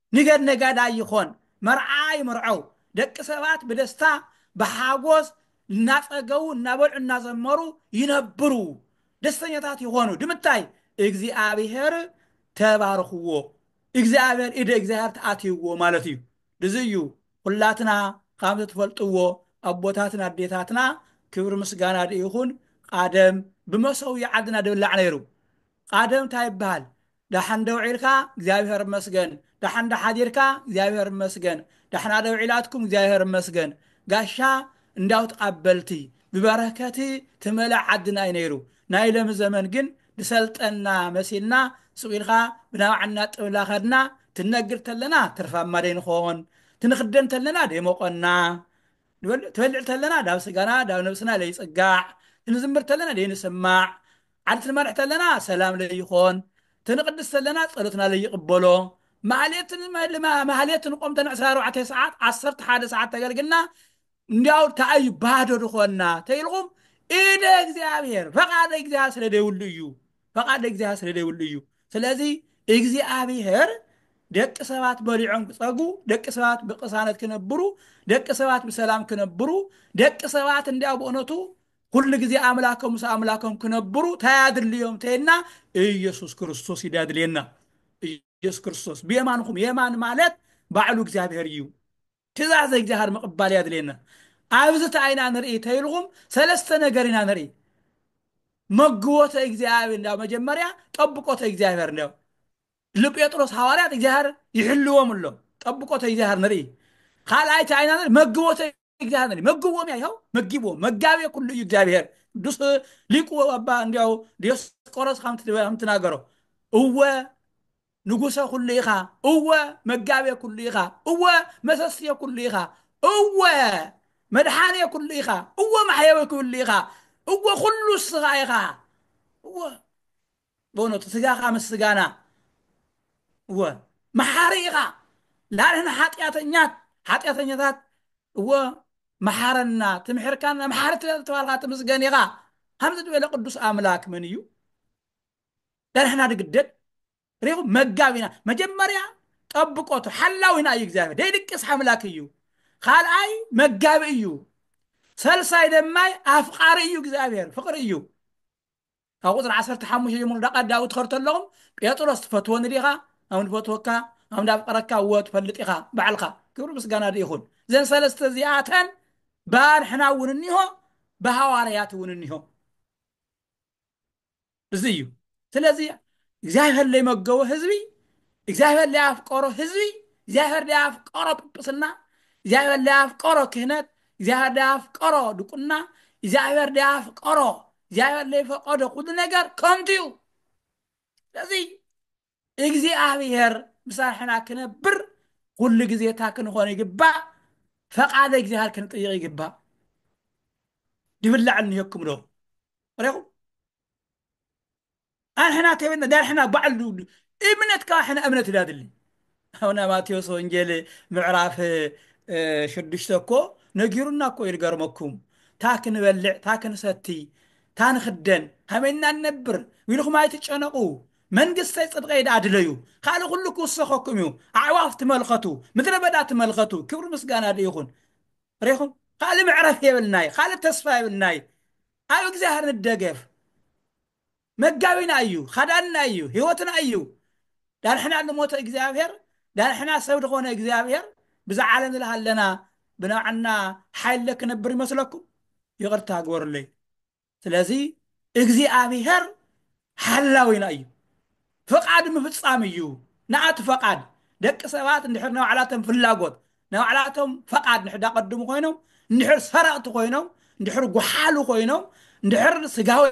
ንገድ ነጋዳይ ይኾን፣ መርዓ ይምርዐው፣ ደቂ ሰባት ብደስታ ብሓጎስ እናጸገቡ እናበልዑ እናዘመሩ ይነብሩ፣ ደስተኛታት ይኾኑ። ድምታይ እግዚኣብሔር ተባርኽዎ፣ እግዚኣብሔር ኢደ እግዚኣብሔር ተኣትይዎ ማለት እዩ። ድዚ እዩ ኹላትና ኻምቲ ትፈልጥዎ ኣቦታትን ኣዴታትና ክብሪ ምስጋና ድይኹን ቓደም ብመሰውያ ዓድና ድብላዕ ነይሩ። ቓደም ታይ ይብሃል ዳሓን ዶ ውዒልካ እግዚኣብሔር እመስገን ዳሓን ዶ ሓዲርካ እግዚኣብሔር እመስገን ዳሕና ዶ ውዒላትኩም እግዚኣብሔር እመስገን ጋሻ እንዳው ትቃበልቲ ብበረከቲ ትመልእ ዓድና እዩ ነይሩ ናይ ለሚ ዘመን ግን ድሰልጠና መሲልና ሱቅ ኢልካ ብናባዕና ጥብላ ከድና ትነግድ ተለና ትርፋማ ደይንኾን ትንክደን ተለና ደይሞቆና ትበልዕ ተለና ዳብ ስጋና ዳብ ነብስና ለይጽጋዕ ትንዝምር ተለና ደይንስማዕ ዓርሲ ንመርሕ ተለና ሰላም ለይኾን ትንቕድስ ተለና ጸሎትና ለይቕበሎ ማህሌት ማህሌት ንቆም ተን ዕስራ ኣርባዕተ ሰዓት ዓሰርተ ሓደ ሰዓት ተገልግልና እንዲያው ታኣዩ ባዶ ድኾና ተይልኹም ኢደ እግዚኣብሔር ፈቃደ እግዚኣብሔር ስለ ደይብሉ እዩ ፈቃደ እግዚኣብሔር ስለ ደይብሉ እዩ ስለዚ እግዚኣብሔር ደቂ ሰባት በሊዖም ክጸጉ ደቂ ሰባት ብቅሳነት ክነብሩ ደቂ ሰባት ብሰላም ክነብሩ ደቂ ሰባት እንዲያው ብእውነቱ ኩሉ ግዜ ኣምላኮም ምስ ኣምላኮም ክነብሩ ታይ ኣድልዮም ተይልና ኢየሱስ ክርስቶስ እዩ ኣድልየና ኢየሱስ ክርስቶስ ብየማንኹም የማን ማለት ባዕሉ እግዚኣብሔር እዩ ትእዛዘ እግዚኣብሔር ምቕባል ያድልየና ኣብዚ ታይና ንርኢ ተይልኹም ሰለስተ ነገር ኢና ንርኢ መግቦተ እግዚኣብሔር እንዳ መጀመርያ ጠብቆተ እግዚኣብሔር እንዳ ልጴጥሮስ ሃዋርያት እግዚኣብሔር ይሕልዎም ኣሎ ጠብቆተ እግዚኣብሔር ንርኢ ካልኣይቲ ኣይና ንርኢ መግቦተ እግዚኣብሔር ይመግቦም ይኸው መጊቦ መጋቤ ኩሉ እዩ እግዚኣብሔር ቅዱስ ሊቁ አባ እንዲያው ዲዮስቆሮስ ከምትናገሮ እወ ንጉሰ ኩሉ ኢኻ እወ መጋቤ ኩሉ ኢኻ እወ መሰስየ ኩሉ ኢኻ እወ መድሓኔ ኩሉ ኢኻ እወ ማሕየዊ ኩሉ ኢኻ እወ ኩሉ እስኻ ኢኻ እወ በእውነቱ ስጋኻ ምስ ስጋና እወ መሓሪ ኢኻ ላንሕና ሓጢኣተኛት ሓጢኣተኛታት እወ መሓረና ትምሕርካና መሓሪ ስለዝተባልካ ትምስገን ኢኻ ከምዚ ዝበለ ቅዱስ ኣምላክ መን እዩ ላንሕና ድግደል ሪኹም መጋቢና መጀመርያ ጠብቆቱ ሓላዊና እዩ እግዚኣብሔር ደይድቅስ ሓምላክ እዩ ካልኣይ መጋቢ እዩ ሰልሳይ ደማይ ኣፍቃሪ እዩ እግዚኣብሔር ፍቅሪ እዩ ካብ ቁጽሪ ዓሰርተ ሓሙሽተ ጀምሩ ዳቃ ዳዊት ትኸዱ ተለኹም ጴጥሮስ ትፈትወኒ ዲኻ ኣም ንፈትወካ ኣም ዳፍቀረካ እወ ትፈልጥ ኢኻ ባዕልኻ ክብሪ ምስጋና ይኹን ዘን ሰለስተ እዚኣተን ባንሕና እውን እኒሆ ብሃዋርያት እውን እኒሆ እዚ እዩ ስለዚ እግዚኣብሔር ለይመገቦ ህዝቢ እግዚኣብሔር ለያፍቀሮ ህዝቢ እግዚኣብሔር ለያፍቀሮ ጵጵስና እግዚኣብሔር ለያፍቀሮ ክህነት እግዚኣብሔር ለያፍቀሮ ድቁና እግዚኣብሔር ለያፍቀሮ እግዚኣብሔር ለይፈቀዶ ኩሉ ነገር ከንቱ እዩ ስለዚ እግዚኣብሔር ምሳርሕና ክነብር ኩሉ ግዜ እታ ክንኾን ይግባእ ፈቃደ እግዚኣብሔር ክንጥይቕ ይግባእ ድብላዕ እንሄኩም ዶ ረኹም ኣንሕና ከይበልና ዳንሕና ባዕል ድውዱ እምነት ካብ ሕና እምነት ዳድሊ ኣውና ማቴዎስ ወንጌል ምዕራፍ ሽዱሽተ እኮ ነጊሩና እኮ ይልገርመኩም ታ ክንበልዕ ታ ክንሰቲ ታ ንክደን ሃመና ንነብር ዊልኹም ኣይትጨነቁ መንግስተይ ጽድቀይ ደኣ ድለዩ ካልእ ኩሉ ክውሰኸኩም እዩ ኣዕዋፍ ትመልኸቱ ምድረ በዳ ትመልኸቱ ክብሪ ምስጋና ዶ ይኹን ሬኹም ካልእ መዕረፍ የብልናይ ካልእ ተስፋ የብልናይ ኣብ እግዚኣብሔር ንደገፍ መጋቢና እዩ ኻዳንና እዩ ህይወትና እዩ ዳንሕና ንሞተ እግዚኣብሔር ዳንሕና ሰብ ዝኾነ እግዚኣብሔር ብዛ ዓለም ዝለሃለና ብናዓና ሓይለ ክነብር ይመስለኩም ይቕርታ ግበሩለይ ስለዚ እግዚኣብሔር ሓላዊና እዩ ፍቃድ ምፍጻም እዩ ንኣቲ ፈቃድ ደቂ ሰባት እንድሕር ናይ ባዕላቶም ፍላጎት ናይ ባዕላቶም ፈቃድ እንድሕር ዳቀድሙ ኮይኖም እንድሕር ሰረቕቲ ኮይኖም እንድሕር ጉሓሉ ኮይኖም እንድሕር ስጋዊ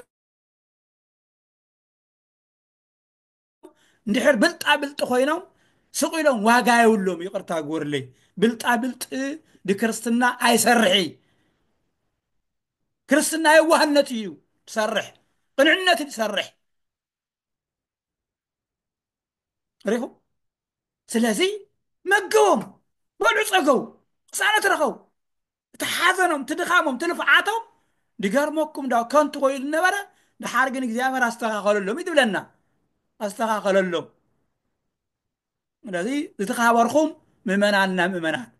እንድሕር ብልጣ ብልጢ ኮይኖም ስቕ ኢሎም ዋጋ የብሎም ይቕርታ ግበሩለይ ብልጣ ብልጢ ድክርስትና ኣይሰርሒ ክርስትና የዋህነት እዩ ትሰርሕ ቅንዕነት ትሰርሕ ሪኹም ስለዚ መግቦም በልዑ ፀገቡ ቅሳነት ረኸቡ እቲ ሓዘኖም እቲ ድኻሞም እቲ ልፍዓቶም ድገርመኩም ዳው ከንቱ ኮይኑ ነበረ ድሓር ግን እግዚኣብሔር ኣስተኻኸለሎም እዩ ትብለና ኣስተኻኸለሎም ስለዚ ዝተኻበርኹም ምእመናንና ምእመናት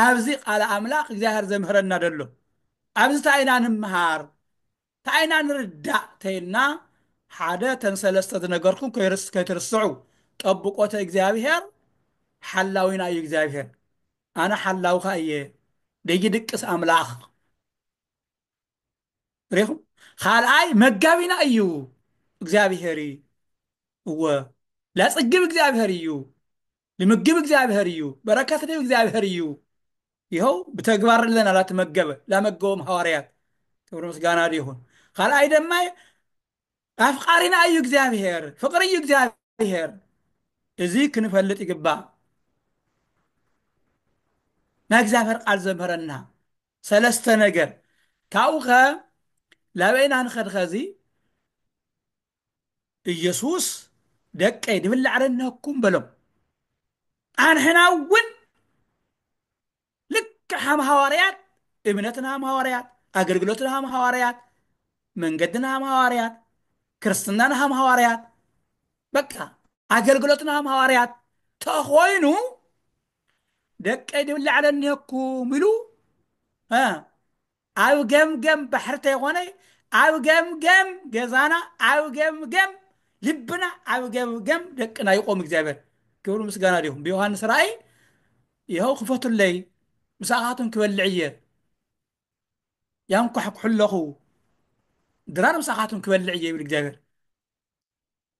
ኣብዚ ቃል ኣምላኽ እግዚኣብሔር ዘምህረና ደሎ ኣብዚ እንታይ ኢና ንምሃር እንታይ ኢና ንርዳእ ተይልና ሓደ ተን ሰለስተ ዝነገርኩም ከይትርስዑ ጠብቆተ እግዚኣብሔር ሓላዊና እዩ እግዚኣብሔር ኣነ ሓላውካ እየ ደይድቅስ ኣምላኽ ሪኹም ካልኣይ መጋቢና እዩ እግዚኣብሄር እዩ እወ ለጽግብ እግዚኣብሄር እዩ ልምግብ እግዚኣብሄር እዩ በረከት ልብ እግዚኣብሄር እዩ ይኸው ብተግባር ለና ላተመገበ ላመገቦም ሃዋርያት ክብሪ ምስጋና ይኹን ካልኣይ ደማ ኣፍቃሪና እዩ እግዚኣብሔር ፍቅሪ እዩ እግዚኣብሔር እዚ ክንፈልጥ ይግባእ ናይ እግዚኣብሔር ቃል ዘምህረና ሰለስተ ነገር ካብኡ ከ ላበይና ንኸድ ኸዚ ኢየሱስ ደቀይ ድብላዕ ረነኩም በሎም ኣንሕና እውን ልክዕ ሃም ሃዋርያት እምነትና ሃም ሃዋርያት ኣገልግሎትና ሃም ሃዋርያት መንገድና ሃም ሃዋርያት ክርስትናና ሃም ሃዋርያት በቃ ኣገልግሎትና ሃም ሃዋርያት ተኾይኑ ደቀይ ድብላዕለ እኒሀኩም ኢሉ ኣብ ገምገም ባሕሪ ተይኮነ ኣብ ገምገም ገዛና ኣብ ገምገም ልብና ኣብ ገምገም ደቅና ይቆም እግዚኣብሔር ክብሪ ምስጋና ዲኹም ብዮሃንስ ራእይ ይኸው ክፈቱለይ ምሳኻቱን ክበልዕ እየ ያንኳሕኩሑ ኣለኹ ድራር ምሳኻቱን ክበልዕ እየ ይብል እግዚኣብሔር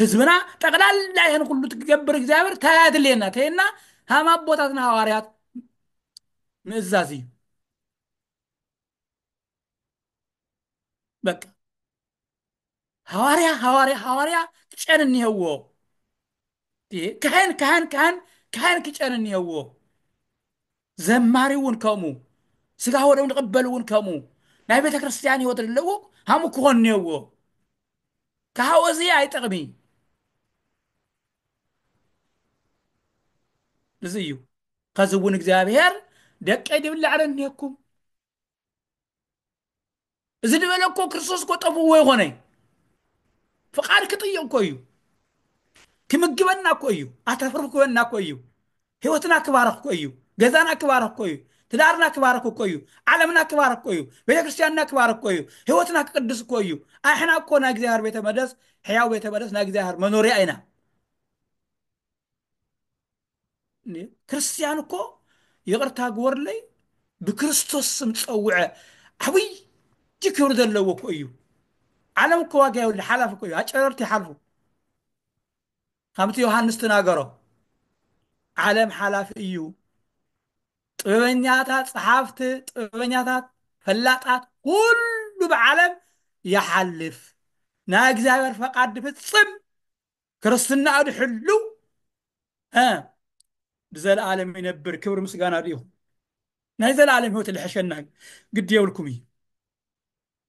ህዝብና ጠቅላላ ይህን ኩሉ ትገብር እግዚኣብሔር እንታይ ኣድልየና ተይና ሃም ኣቦታትና ሃዋርያት ምእዛዝ እዩ በቃ ሃዋርያ ሃዋርያ ሃዋርያ ጨን እኒሀዎ እየ ካህን ካህን ካህን ካህን ክጨን እኒሀዎ ዘማሪ እውን ከምኡ ስጋ ወደም ንቕበል እውን ከምኡ ናይ ቤተ ክርስቲያን ህይወት ኣለዎ ሃሙ ክኾን እኒሀዎ ካሃወ እዚ ኣይጠቕሚ እዚ እዩ ከዚ እውን እግዚኣብሔር ደቀይ ድብላዕለ እኒሄኩም እዚ ድበለ እኮ ክርስቶስ እኮ ጠፍዎ ይኮነ ፍቃድ ክጥይቅ እኮ እዩ ክምግበና እኮ እዩ ኣተፍርፍ ክበና እኮ እዩ ህይወትና ክባረክ እኮ እዩ ገዛና ክባረክ እኮ እዩ ትዳርና ክባረክ እኮ እዩ ዓለምና ክባረክ እኮ እዩ ቤተክርስትያንና ክባረክ እኮ እዩ ህይወትና ክቅድስ እኮ እዩ ኣሕና እኮ ናይ እግዚኣብሔር ቤተ መደስ ሕያው ቤተ መደስ ናይ እግዚኣብሔር መኖርያ ኢና ክርስትያን እኮ ይቕርታ ግበርለይ ብክርስቶስ ስም ፀውዐ ዓብይ ክብሪ ዘለዎ እኮ እዩ ዓለም እኮ ዋጋ የብሉ ሓላፊ እኮ እዩ ኣጨረርቲ ይሓልፉ ከምቲ ዮሃንስ ተናገሮ ዓለም ሓላፊ እዩ ጥበበኛታት ፀሓፍቲ ጥበበኛታት ፈላጣት ኩሉ ብዓለም ይሓልፍ ናይ እግዚኣብሔር ፈቃድ ፍፅም ክርስትናኡ ድሕልው እ ብዘለኣለም ይነብር ክብሪ ምስጋና ድኡ ናይ ዘለኣለም ህይወት ልሕሸና እዩ ግዲ የብልኩም እዩ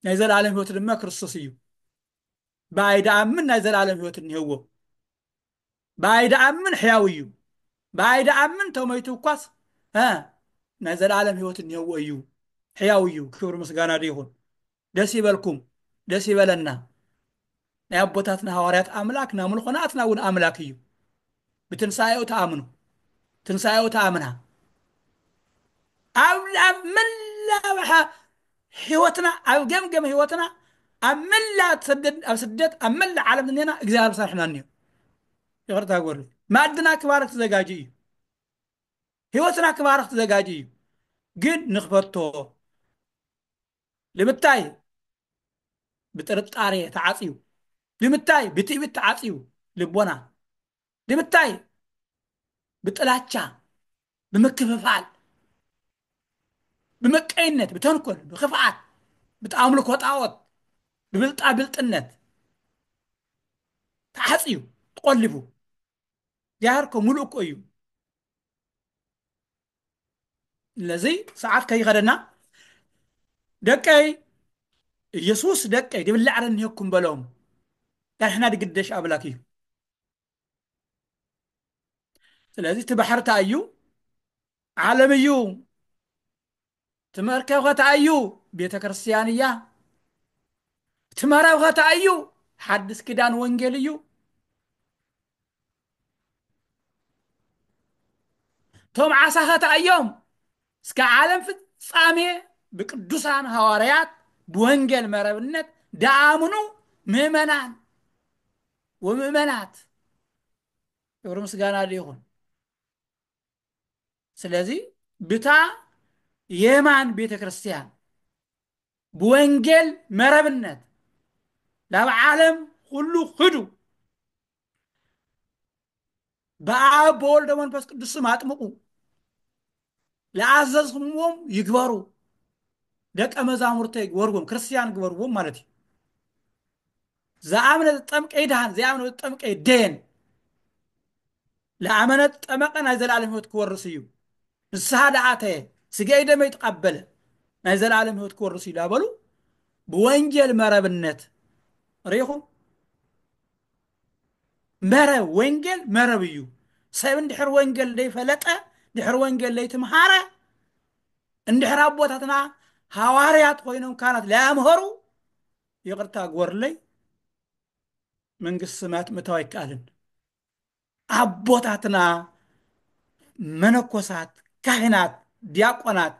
ናይ ዘለኣለም ህይወት ድማ ክርስቶስ እዩ ብኣይ ደኣምን ናይ ዘለኣለም ህይወት እኒህዎ ብኣይ ደኣምን ሕያው እዩ ብኣይ ደኣምን ተመይቱ እኳስ እ ናይ ዘለኣለም ህይወት እኒህዎ እዩ ሕያው እዩ ክብሪ ምስጋና ድኡ ይኹን ደስ ይበልኩም ደስ ይበለና ናይ ኣቦታትና ሃዋርያት ኣምላክ ናምልኾ ናትና እውን ኣምላክ እዩ ብትንሳኤኡ ተኣምኑ ትንሳኤኡ ተኣምና ኣብ መላብሓ ህይወትና ኣብ ገምገም ህይወትና ኣብ መላ ሰደድ ኣብ ስደት ኣብ መላ ዓለም ዝኔና እግዚኣብሔር ሰርሕና እኒዮ ይቅርታ ጎርሉ ማዕድና ክባርክ ተዘጋጅ እዩ ህይወትና ክባርክ ተዘጋጅ እዩ ግን ንክፈቶ ልምታይ ብጥርጣሬ ተዓጽዩ ልምታይ ብትእቢት ተዓጽዩ ልቦና ልምታይ ብጥላቻ ብምክፍፋል ብምቀይነት ብተንኮል ብክፍኣት ብኣምልኮ ጣዖት ብብልጣ ብልጥነት ተዓጽዩ ተቆሊፉ ጃህርኮ ሙሉእ እኮ እዩ ስለዚ ሰዓት ከይኸደና ደቀይ ኢየሱስ ደቀይ ድብላ ዕረኒሄኩም በሎም ዳሕና ድግደሽ ኣምላክ እዩ ስለዚ እቲ ባሕርታ እዩ ዓለም እዩ ትመርከ ከተኣዩ ቤተ ክርስቲያን እያ ትመረብ ከተኣዩ ሓድስ ኪዳን ወንጌል እዩ ቶም ዓሳ ከተኣዮም እስከ ዓለም ፍጻሜ ብቅዱሳን ሃዋርያት ብወንጌል መረብነት ደኣምኑ ምእመናን ወምእመናት ክብሪ ምስጋና ይኹን ስለዚ ብታ የማን ቤተ ክርስቲያን ብወንጌል መረብነት ናብ ዓለም ኩሉ ክዱ በኣብ በወልደ መንፈስ ቅዱስ ስም ኣጥምቁ ለኣዘዝኩምዎም ይግበሩ ደቀ መዛሙርተይ ግበርዎም ክርስቲያን ግበርዎም ማለት እዩ ዘኣምነ ዝጠምቀ ይድሃን ዘይኣምነ ዝጠምቀ ይደየን ለኣመነ ዝጠመቀ ናይ ዘላለም ህይወት ክወርስ እዩ ንስሓ ደኣተየ ስገይ ደመይ ተቐበለ ናይ ዘላለም ህይወት ክወርስ እዩ ዳበሉ ብወንጀል መረብነት ርኢኹም መረብ ወንጌል መረብ እዩ ሰብ እንድሕር ወንጌል ዘይፈለጠ ድሕር ወንጌል ዘይትምሃረ እንድሕር ኣቦታትና ሃዋርያት ኮይኖም ካህናት ለያምሀሩ ይቅርታ ግበሩለይ መንግስቲ ሰማያት ምእታው ኣይከኣልን። ኣቦታትና መነኮሳት ካህናት ዲያቆናት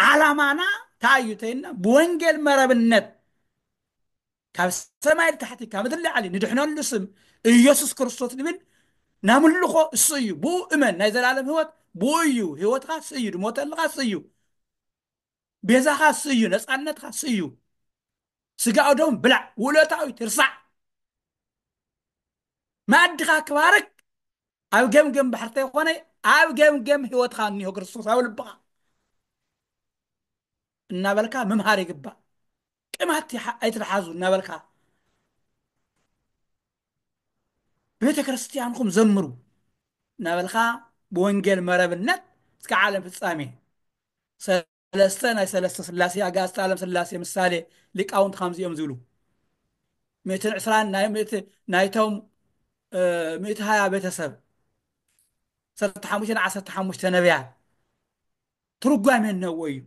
ዓላማና እንታይ እዩ ተይልና ብወንጌል መረብነት ካብ ሰማይ ንታሕቲ ካብ ምድሪ ላዕሊ ንድሕነሉ ስም ኢየሱስ ክርስቶስ ንብል ናምልኾ እሱ እዩ ብኡ እመን ናይ ዘላለም ህይወት ብኡ እዩ ህይወትካ እሱ እዩ ድሞተልካ እሱ እዩ ቤዛኻ እሱ እዩ ነፃነትካ እሱ እዩ ስጋኡ ደም ብላዕ ውለታዊ ትርሳዕ መኣድኻ ክባርክ ኣብ ገምገም ባሕርቲ ተይኮነ ኣብ ገምገም ህይወትካ እኒሆ ክርስቶስ ኣብ ልብኻ እናበልካ ምምሃር ይግባእ ቅማት ኣይትትሓዙ እናበልካ ቤተ ክርስቲያንኩም ዘምሩ እናበልካ ብወንጌል መረብነት እስከ ዓለም ፍጻሜ ሰለስተ ናይ ሰለስተ ስላሴ ኣጋእዝተ ዓለም ስላሴ ምሳሌ ሊቃውንት ከምዚ እዮም ዝብሉ ምእትን ዕስራን ናይ ምእቲ ናይቶም እ፣ ምእቲ ሃያ ቤተሰብ ዓሰርተ ሓሙሽተን ዓሰርተ ሓሙሽተ ነቢያት ትርጓሜ እነዎ እዩ።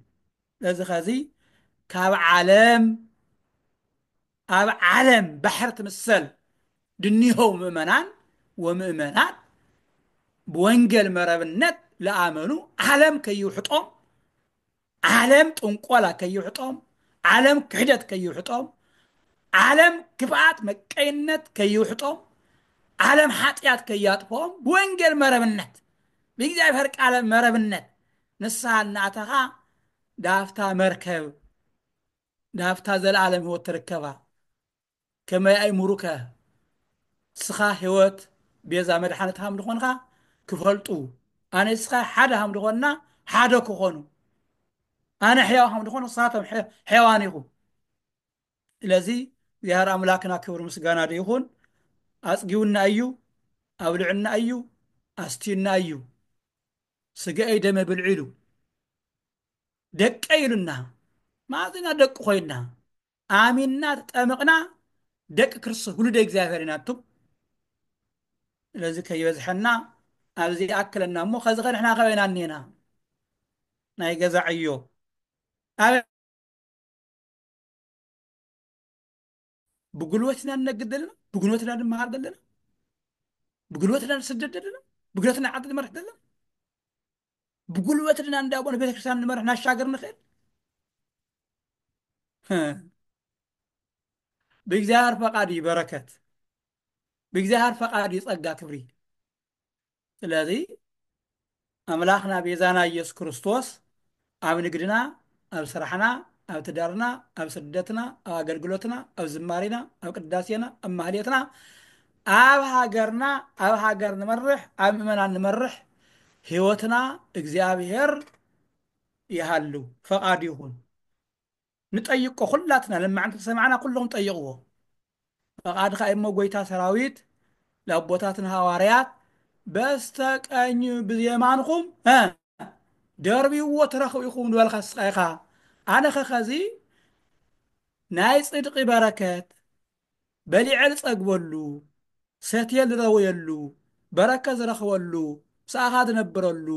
ስለዚ ከዚ ካብ ዓለም ኣብ ዓለም ባሕር ትምሰል ድኒሆው ምእመናን ወምእመናት ብወንጌል መረብነት ለኣመኑ ዓለም ከይውሕጦም ዓለም ጥንቆላ ከይውሕጦም ዓለም ክሕደት ከይውሕጦም ዓለም ክፍኣት መቀይነት ከይውሕጦም ዓለም ሓጢኣት ከያጥፎም ብወንጌል መረብነት ብእግዚኣብሔር ቃለ መረብነት ንስሓ እናኣተኻ ናብታ መርከብ ናብታ ዘለዓለም ሕይወት ትርከባ ከመይ ኣይሙሩከ ንስኻ ሕይወት ቤዛ መድሓነት ሃም ድኾንኻ ክፈልጡ ኣነ ንስኻ ሓደ ሃም ድኾንና ሓደ ክኾኑ ኣነ ሕያው ሃም ድኾን ንሳቶም ሕያዋን ኢኹም ስለዚ እግዚኣሃር ኣምላክና ክብሪ ምስጋና ዶ ይኩን ኣጽጊውና ኣዩ ኣብልዑና ኣዩ ኣስትዩና ኣዩ ስገኤይ ደመይ ብልዑ ኢሉ ደቀይ ኢሉና ማኣዝ ኢና ደቁ ኮይና ኣሚንና ተጠምቅና ደቂ ክርስቶስ ውሉደ እግዚኣብሔር ኢና ኣቱም ስለዚ ከይበዝሐና ኣብዚ ይኣክለና እሞ ከዚ ከ ንሕና ከበይ ኢና እኒኤና ናይ ገዛ ዕዮ ኣበይ ብጉልበት ኢና ንነግድ ዘለና ብጉልበት ኢና ንመሃር ዘለና ብጉልበት ኢና ንስደድ ዘለና ብጉልበት ኢና ዓዲ ንመርሕ ዘለና ብጉልበት ኢና እንዳቦ ንቤተክርስትያን ንመርሕ ናሻገር ንኽእል ህ፣ ብእግዚኣብሔር ፈቃድ እዩ በረከት ብእግዚኣብሔር ፈቃድ እዩ ጸጋ ክብሪ ስለዚ ኣምላኽና ቤዛና ኢየሱስ ክርስቶስ ኣብ ንግድና ኣብ ስራሕና ኣብ ትዳርና ኣብ ስደትና ኣብ ኣገልግሎትና ኣብ ዝማሬና ኣብ ቅዳሴና ኣብ ማህሌትና ኣብ ሃገርና ኣብ ሃገር ንመርሕ ኣብ ምእመናን ንመርሕ ህይወትና እግዚኣብሔር ይሃሉ ፈቃዱ ይኹን ንጠይቆ ኩላትና ለማዓንቲ ዝሰማዕና ኩሎም ጠይቅዎ ፈቃድካ እዩ እሞ ጎይታ ሰራዊት ለኣቦታትና ሃዋርያት በስተ ቀኝ ብየማንኩም እ ደርብዎ ትረክቡ ኢኩም ንበልካ ስቃይካ ኣነ ከከዚ ናይ ጽድቂ በረከት በሊዐ ዝጸግበሉ፣ ሰትየ ዝረውየሉ፣ በረከት ዝረኽበሉ፣ ምሳኻ ዝነብረሉ፣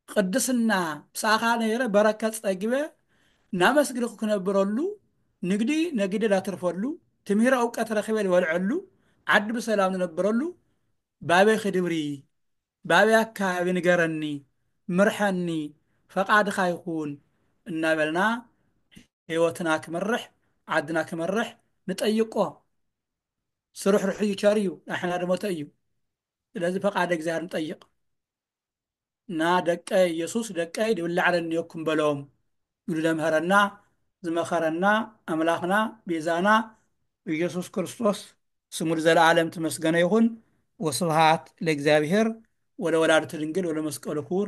ቕድስና ምሳኻ ነይረ በረከት ጸጊበ እናመስግንኩ ክነብረሉ፣ ንግዲ ነጊደ ላትርፈሉ፣ ትምህረ እውቀት ረኺበ ልበልዐሉ፣ ዓዲ ብሰላም ዝነብረሉ፣ ባቤ ክድብሪ፣ ባቤ ኣካባቢ ንገረኒ፣ ምርሐኒ፣ ፈቃድኻ ይኹን እናበልና ሂወትና ክመርሕ ዓድና ክመርሕ ንጠይቆ ስሩሕሩሕ እዩ ቸር እዩ ዳሕና ድሞተ እዩ ስለዚ ፈቃደ እግዚኣብሔር ንጠይቅ እና ደቀ ኢየሱስ ደቀይ ድብላዕ ረኒዮኩም በሎም ኢሉ ዘምሀረና ዝመኸረና ኣምላኽና ቤዛና ኢየሱስ ክርስቶስ ስሙ ንዘለዓለም ትመስገነ ይኹን ወስብሃት ለእግዚኣብሔር ወለወላዲቱ ድንግል ወለመስቀሉ ክቡር